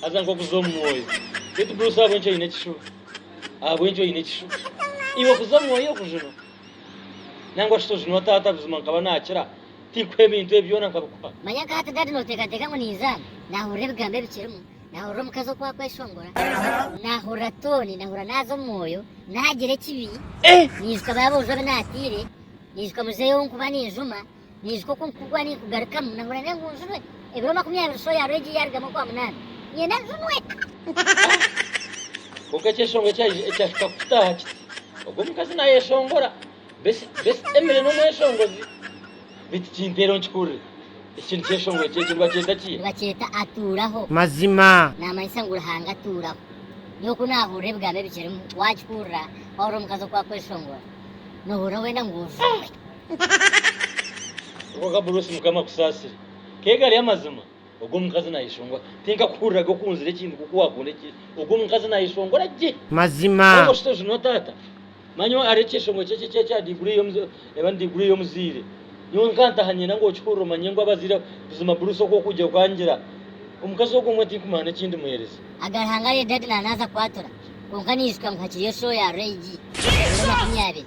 Haza nk'okuza omu mwoyo. Beitu Bruce ahabw'enki oine ekishuba? Ahabw'enki oine ekishuba? Iwe okuza omu mwoyo okujunwa? Nangwa shi tojunwa taata buzima nkaba nakira tinkuha ebintu ebi byona nkabikuha. Manya nka hati Dad noteekateeka ngu ninza nahurira ebigambo ebikirimu, nahurira omukazi oku akweshongora, nahurira tooni, nahurira naza omu mwoyo, nagira ekibi, niijuka baaboojo abu naatiire, niijuka muzeeyi ou nkuba ninjuma, Niijuka oku nkugwa ninkugarukamu nahurira n'engunjurwe ebiro makumi abiri soya hariho egi yaarugamu okwa munaana. Niinyenda njunwe. Kwonka ekyeshongoro ekyahika kukitaaha kiti, Ogwo mukazi naayeshongora, beitu Emily n'omweshongozi. Beitu kinteera nkihurire. Eki kintu kyeshongoro eki ekyo nibakyeta ki? Nibakyeta Atuuraho. Mazima. Naamanyisa ngu Ruhanga atuuraho. Nyowe ku naahurira ebigambo ebi kirimu, waakihurira, waahurira omukazi oku akweshongora, noohurira wenda ngu ojunwe. Kwonka Bruce mukama akusaasire. Ke gari amazima? Ogwo omukazi nayeshongora. Tinkakuhurira ge okunzira ekintu nkoku wakunda eki. Ogwo omukazi nayeshongora gye. Mazima. Kwonka oshitoje no taata. Manya hariho ekyeshongoro kyekyo ekiri ekya degree yo eba ni degree yomuzaire. Nyowe nkantaha ninyenda ngu okihurire omanye ngu abazaire buzima Bruce oku okugye okangira. Omukazi ogwo mbwenu tinkumanya neki ndimuhereza. Aga Ruhanga arye daddy nanaza kwatura. Kwonka ninshuka ngu hakiriyo show ya Ray G. Ebiro makumi abiri.